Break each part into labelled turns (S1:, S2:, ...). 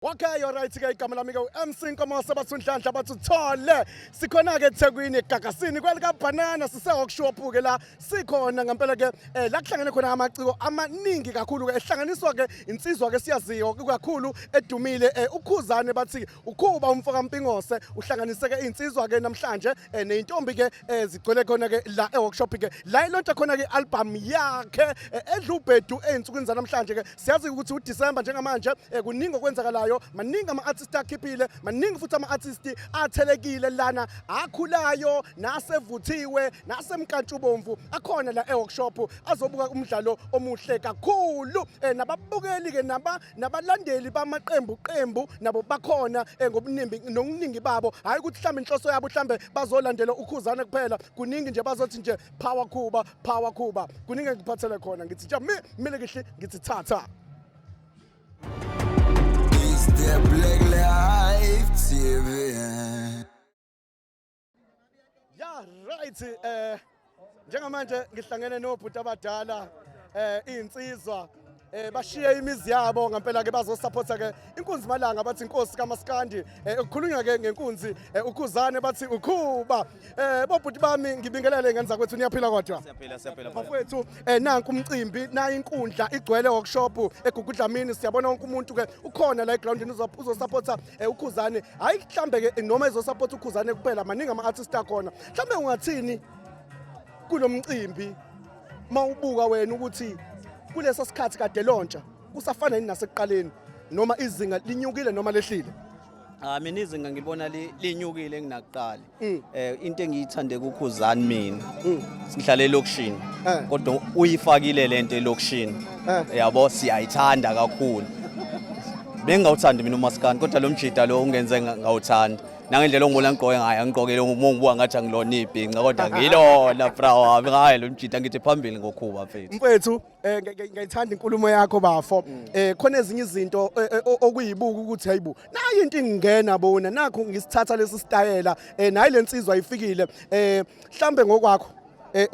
S1: Okay you're right ke igama lami ke uMC Nkomo sabasunhlanhla bathi uthole sikhona ke eThekwini eGagasini kwelika banana sise workshop ke la sikhona ngempela ke eh, la kuhlangene khona amaciko amaningi kakhulu ke ehlanganiswa ke insizwa ke siyaziyo kakhulu edumile eh, ukhuzane bathi ukhuba umfo kaMpingose uhlanganise ke insizwa ke namhlanje eh, nezintombi ke eh, zigcwele khona ke la eworkshop ke la ilonta khona ke album yakhe eh, edlubhedu ezinsukwini zanamhlanje ke siyazi ukuthi uDecember njengamanje eh, kuningi okwenzakalayo maningi ama-artist akhiphile maningi futhi ama-artist athelekile lana akhulayo nasevuthiwe nasemkantshubomvu akhona la e-workshop azobuka umdlalo omuhle kakhulu eh, nababukeli-ke nabalandeli bamaqembu qembu nabo bakhona eh, ngobuningi nokuningi babo hhayi ukuthi mhlawumbe inhloso yabo mhlawumbe bazolandela ukhuzana kuphela kuningi nje bazothi nje power khuba power khuba kuningi engikuphathele khona ngithi ja mi mile kihle ngithi thatha
S2: Is the Black Life TV.
S1: ya right eh njengamanje ngihlangene nobhuti abadala eh insizwa eh bashiye imizi yabo ngempela ke bazosupporta ke inkunzi malanga bathi inkosi kamaskandi eh ukukhulunywa ke ngenkunzi eh, ukhuzane bathi ukhuba eh bobhuti bami ngibingelele ngenza kwethu niyaphila kodwa siyaphila siyaphila bafowethu
S3: eh
S1: nanku umcimbi nayi inkundla igcwele workshop egugudlamini eh, siyabona wonke umuntu ke ukhona la egroundini uzosupporta eh, ukhuzane hayi mhlambe ke noma izosupporta ukhuzane kuphela maningi ama artist akhona mhlambe ungathini kulomcimbi uma ubuka wena ukuthi kulesa sikhathi kade lontsha kusafana yini nasekuqaleni noma izinga linyukile noma lehlile Ah mina
S3: izinga ngibona linyukile enginakuqala. Mm. Eh into engiyithande kukhuzani mina. Mm. Sihlale elokushini. Eh. Kodwa uyifakile lento elokushini. Eh. Yabo siyayithanda kakhulu. Bengawuthandi mina umaskani kodwa lo mjida lo ungenze ngawuthanda. nangendlela ongibona ngigqoke ngayo angigqokile uma ngibuka ngathi angilona ibhinca kodwa ngilona bra wami ngaye lo mjita ngithi phambili ngokhuba mfethu mfethu eh,
S1: ngiyithanda inkulumo yakho bafo mm. eh khona ezinye izinto eh, eh, okuyibuka ukuthi hayibo nayi into ingena bona nakho ngisithatha lesi stayela eh nayi lensizwa ifikile eh mhlambe ngokwakho eh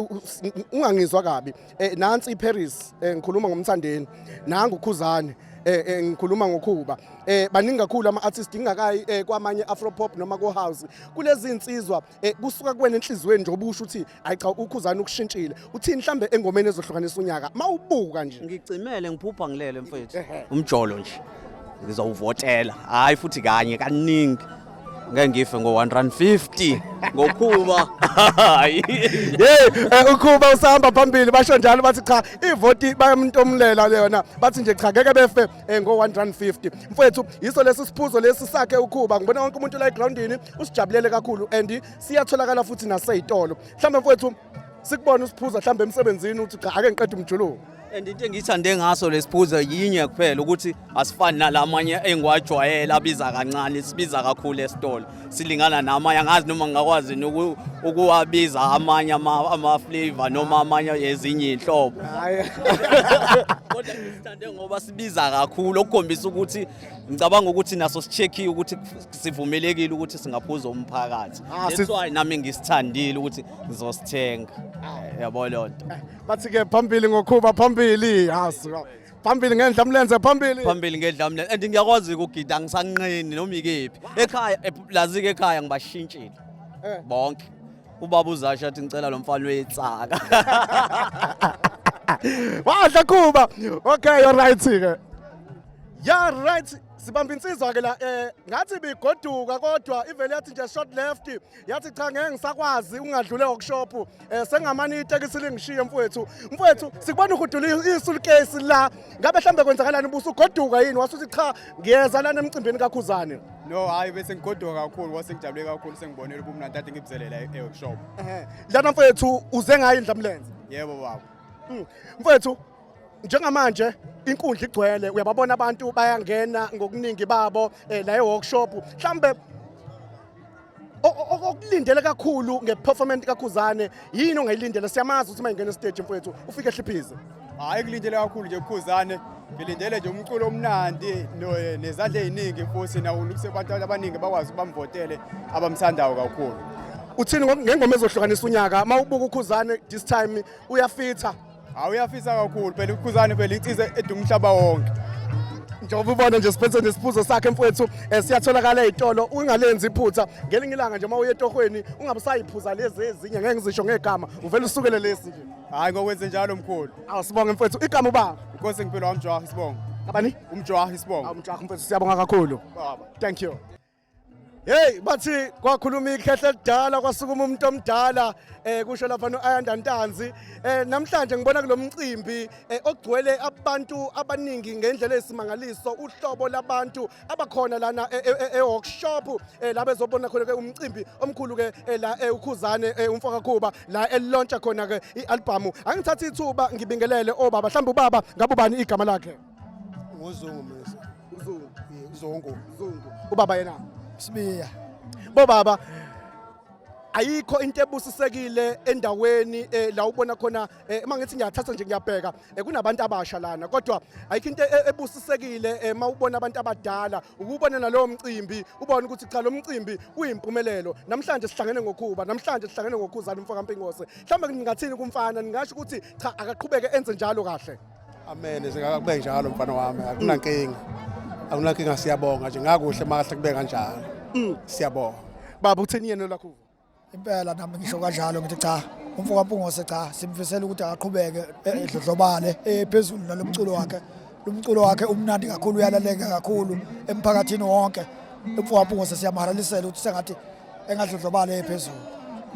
S1: ungangizwa kabi eh nansi iParis eh ngikhuluma ngomthandeni nangu ukhuzane eh, eh ngikhuluma ngokhuba eh baningi kakhulu ama artists ingakayi eh, kwamanye afro pop noma ko house kulezi insizwa eh, kusuka kuwena enhlizweni nje obusho ukuthi hayi cha ukhuzana ukushintshile uthini mhlambe engomeni ezohlukanisa unyaka mawubuka nje ngicimele ngiphupha
S3: ngilele mfethu umjolo nje ngizowuvotela hayi futhi kanye kaningi ngeke ngife ngo-150 ngokhuba hayi hey
S1: eh, ukhuba usahamba phambili basho njalo bathi cha ivoti bayamntomulela leyona bathi nje cha ngeke befe eh, ngo-150 mfowethu yiso lesi siphuzo lesi sakhe ukhuba ngibona wonke umuntu la egrawundini usijabulele kakhulu and siyatholakala futhi naseyitolo mhlawumbe mfowethu sikubona usiphuza mhlawumbe emsebenzini uthi cha ake ngiqeda umjuluko and into engiyithande
S3: ngaso lesiphuzo yinye kuphela ukuthi asifani nalamanye engiwajwayela abiza kancane sibiza kakhulu esitolo silingana namanye angazi noma ngingakwazi ukuwabiza amanye ama-flavor noma amanye ezinye iy'nhlobo kodwa sithande ngoba sibiza kakhulu okukhombisa ukuthi ngicabanga ukuthi naso sichekhiwe ukuthi sivumelekile ukuthi singaphuza umphakathi ah, that's why nami ngisithandile ukuthi ngizosithenga ah. yabo loo nto bathi ke phambili
S1: ngokhuba phambili yasi phambili ngendla mlenze phambili phambili ngedla
S3: mlenze and ngiyakwazi ukugida ngisanqeni noma ikephi ekhaya lazi-ke ekhaya ngibashintshile Eh. bonke ubaba uzasha athi ngicela lo mfana uyetsaka
S1: wadla khuba okay you're right ke ya right sibamba insizwa ke la eh ngathi bigoduka kodwa ivele yathi nje short left yathi cha ngeke ngisakwazi ungadlule workshop um eh, sengamane itekisi lingishiye mfowethu mfowethu sikubona uhudula isulukesi la ngabe mhlawumbe kwenzakalani ubusa ugoduka yini wasuthi cha ngiyeza lana emcimbini kakhuzane no hhayi bese
S4: ngigoduka kakhulu wase ngijabule kakhulu sengibonele ubumnandi kade ngibuzelela e-workshop lana mfowethu
S1: uze ngayo indlamlenze yebo baba
S4: hmm. mfowethu
S1: njengamanje inkundla igcwele uyababona abantu bayangena ngokuningi babo eh, la e-workshop mhlawumbe okulindele kakhulu nge-performance kakhuzane yini ongayilindele siyamazi ukuthi uma ingena esiteji mfowethu ufike ehliphize hayi kulindele
S4: kakhulu nje kukhuzane ngilindele nje umculo omnandi nezandla eziningi futhi nawo ukuthi abantu abaningi bakwazi ukubamvotele abamthandayo kakhulu uthini
S1: ngengoma ezohlukanisa unyaka uma ubuka ukhuzane this time uyafitha
S4: Hawu uyafisa kakhulu phela uKhuzani phela
S1: insiza
S4: eduma umhlaba wonke. njengoba
S1: ubona nje siphethe nesiphuzo sakhe mfowethu eh, siyatholakala ey'tolo ungalenzi iphutha ngelinye ilanga nje uma uye etohweni ungabusayiphuza lezi ezinye ngeke ngizisho ngegama uvele usukele lesi nje Hayi ngokwenze njalo
S4: mkhulu. awu sibonge mfowethu igama
S1: ubaba Inkosi ngempilo wami Jwaha
S4: isibongo. abani Umjwaha
S1: isibongo. awu
S4: mjaha mfowethu siyabonga
S1: kakhulu Baba. thank you Hey bathi kwakhuluma ikhehle elidala kwasukuma umuntu omdala eh kusho lapha noAyanda Ntanzi eh namhlanje ngibona kulomcimbi eh, ogcwele abantu abaningi ngendlela esimangaliso uhlobo labantu abakhona lana eh, eh, eworkshop la bezobona khona ke umcimbi omkhulu ke la ukhuzane umfoka Khuba la elilontsha khona ke ialbum angithatha ithuba ngibingelele obaba mhlawumbe ubaba ngabubani igama lakhe ngozungu
S5: mese uzungu
S1: uzungu
S5: uzungu ubaba
S1: yena sibiya
S5: bo baba
S1: ayikho into ebusisekile endaweni eh, la ubona khona eh, uma ngithi ngiyathatha nje ngiyabheka eh, kunabantu abasha lana kodwa ayikho into e-, ebusisekile uma ubona abantu abadala ukubona nalowo mcimbi ubone ukuthi cha lo mcimbi uyimpumelelo namhlanje sihlangene ngokhuba namhlanje sihlangene ngokhuzana umfoka mpingose mhlawumbe ningathini kumfana ningasho ukuthi cha akaqhubeke enze njalo kahle Amen kube
S5: njalo mfana wami akunankinga akunankinga siyabonga nje ngakuhle makahle kube kanjalo mm. siyabonga baba utheni
S1: yena lakho impela nami
S6: ngisho kanjalo ngithi cha umfo kampungose cha simfisela ukuthi aqhubeke e, edlodlobale ephezulu eh, nalomculo wakhe lomculo wakhe umnandi kakhulu uyalaleka kakhulu emphakathini wonke umfo kampungose siyamharalisela ukuthi sengathi engadlodlobale ephezulu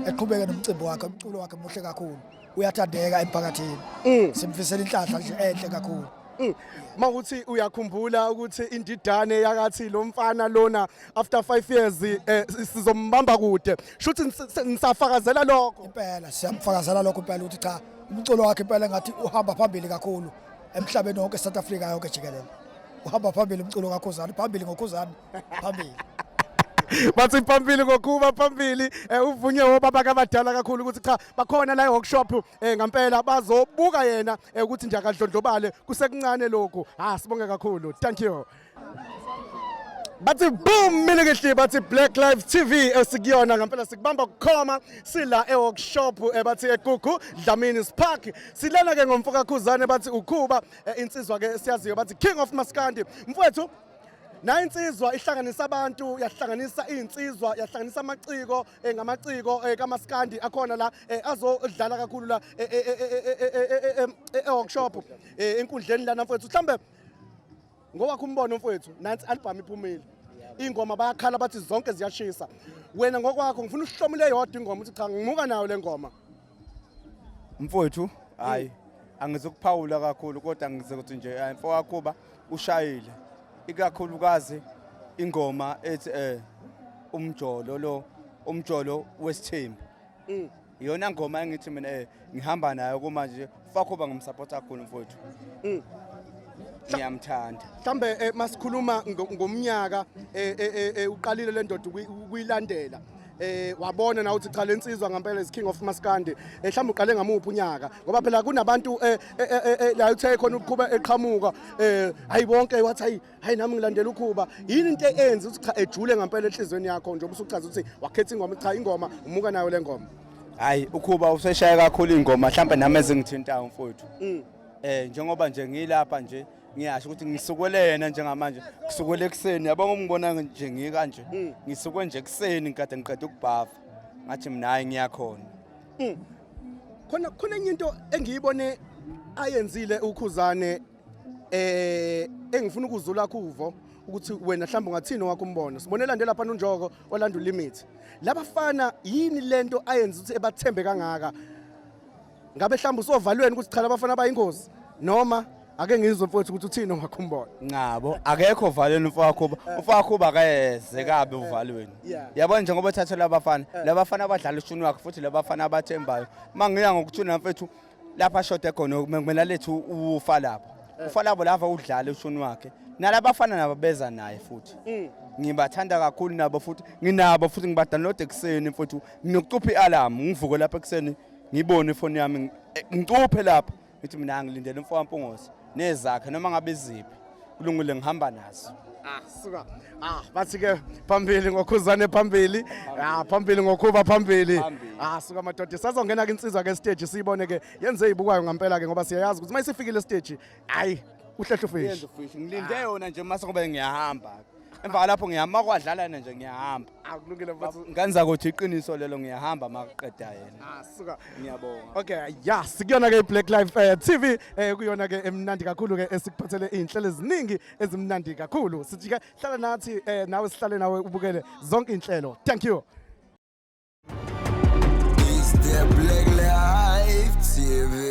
S6: eqhubeke nomcimbi wakhe umculo wakhe muhle kakhulu uyathandeka emphakathini mm. simfisela inhlahla nje enhle kakhulu mm. mawuthi
S1: uyakhumbula ukuthi indidane yakathi lo mfana lona after 5 years eh, sizombamba kude shuthi nisafakazela lokho impela siyamfakazela
S6: lokho impela ukuthi cha umculo wakhe impela ngathi uhamba phambili kakhulu emhlabeni wonke South Africa yonke jikelele uhamba phambili umculo kakhuzani phambili ngokhuzani phambili
S1: bathi phambili ngokuba phambili eh, uvunywe obaba kabadala kakhulu ukuthi cha bakhona la workshop eh ngampela bazobuka yena eh, ukuthi nje akadlondlobale kusekuncane lokhu ha ah, sibonge kakhulu thank you bathi boom mina ngihle bathi Black Life TV esikuyona ngempela sikubamba kukhoma sila eworkshop eh, bathi eGugu Dlamini Park silana ke ngomfoka Khuzane bathi ukhuba eh, insizwa ke siyaziyo bathi King of Maskandi mfowethu nayo insizwa ihlanganisa abantu yahlanganisa iy'nsizwa yahlanganisa amaciko eh, ngamaciko eh, kamaskandi akhona la eh, azodlala kakhulu la eh, eh, eh, eh, eh, eh, eh, eh, eh, eh, workshop eh, enkundleni lana mfowethu mhlambe ngowakho umbono mfowethu nansi album iphumile ingoma bayakhala bathi zonke ziyashisa wena ngokwakho ngifuna uhlomule yodwa ingoma uthi cha ngimuka nayo le ngoma
S4: mfowethu hayi angizokuphawula kakhulu kodwa ngizokuthi nje eh, mfowakhuba ushayile ikakhulukazi ingoma ethi eh umjolo lo umjolo wesithembu mm. iyona ngoma engithi mina eh ngihamba nayo kumanje Fakhoba ngimsupport kakhulu mfowethu. Mm. Ngiyamthanda. Mhlambe eh, masikhuluma
S1: ngomnyaka eh, eh, eh uqalile le ndoda ukuyilandela. eh wabona na uthi cha lensizwa ngempela is king of maskandi ehlamba eh, uqale ngamuphi unyaka ngoba phela kunabantu eh, eh, eh la uthe khona ukuqhuba eqhamuka eh hayi bonke wathi hayi nami ngilandela ukhuba yini into eyenza ukuthi cha ejule ngempela enhlizweni yakho njengoba usuchaza ukuthi wakhetha ingoma cha ingoma umuka nayo le ngoma hayi ukhuba
S4: useshaya kakhulu ingoma mhlawumbe nami ezingithintayo mfowethu mm. eh njengoba nje ngilapha nje ngiyasho ukuthi ngisukele yena njengamanje ngisukele ekuseni yabo ngomngibona nje ngikanje mm. ngisuke nje ekuseni ngikade ngiqeda ukubhava ngathi mina hayi ngiyakhona mm. khona
S1: khona enye into engiyibone ayenzile ukhuzane eh engifuna ukuzula kuvo ukuthi wena mhlawumbe ungathini wakho umbono sibone lande lapha nonjoko olanda limit labafana yini lento ayenza ukuthi ebathembe kangaka ngabe mhlawumbe usovalweni ukuthi cha labafana bayingozi noma ake ngizwe mfowethu ukuthi uthini wakho umbono ngabo akekho
S4: uvalweni mfowakho eh. umfowakho ubakayeze kabe eh. uvalweni yabona njengoba thatha labafana eh. labafana abadlala ushuni wakhe futhi labafana abathembayo mangiya ngokuthuna mfethu lapha ashode khona kumele alethe ufa lapho eh. ufa labo lava udlala ushuni wakhe nalabafana nabo beza naye futhi mm. ngibathanda kakhulu nabo futhi nginabo futhi ngibadownload ekuseni futhi nginokucupha i-alarm ngivuke lapha ekuseni ngibone ifoni yami eh, ngicuphe lapha ngithi mina ngilindele umfo wampungose nezakhe noma ngabe iziphi kulungile ngihamba nazo ah suka
S1: ah bathi ke phambili ngokhuzane phambili ah phambili ngokhuba phambili ah suka madoda sazongena ke insizwa ke stage siyibone ke yenze ibukayo ngampela ke ngoba siyayazi ukuthi mayisefikile stage hayi uhlehlo fish ngilinde
S4: yona nje mase ngoba ngiyahamba emva kwalapho ngiyahamba uma kwadlala yena nje ngiyahamba akulungile mfowethu
S1: ngane zakothi iqiniso
S4: lelo ngiyahamba uma kuqeda yena ah suka ngiyabonga
S1: okay
S4: ya
S1: sikuyona ke i-black life eh, tv eh, kuyona ke emnandi kakhulu ke esikuphathele iy'nhlelo eziningi ezimnandi kakhulu sithi ke hlala nathi eh, nawe sihlale nawe ubukele zonke iy'nhlelo thank you It's the Black Life TV.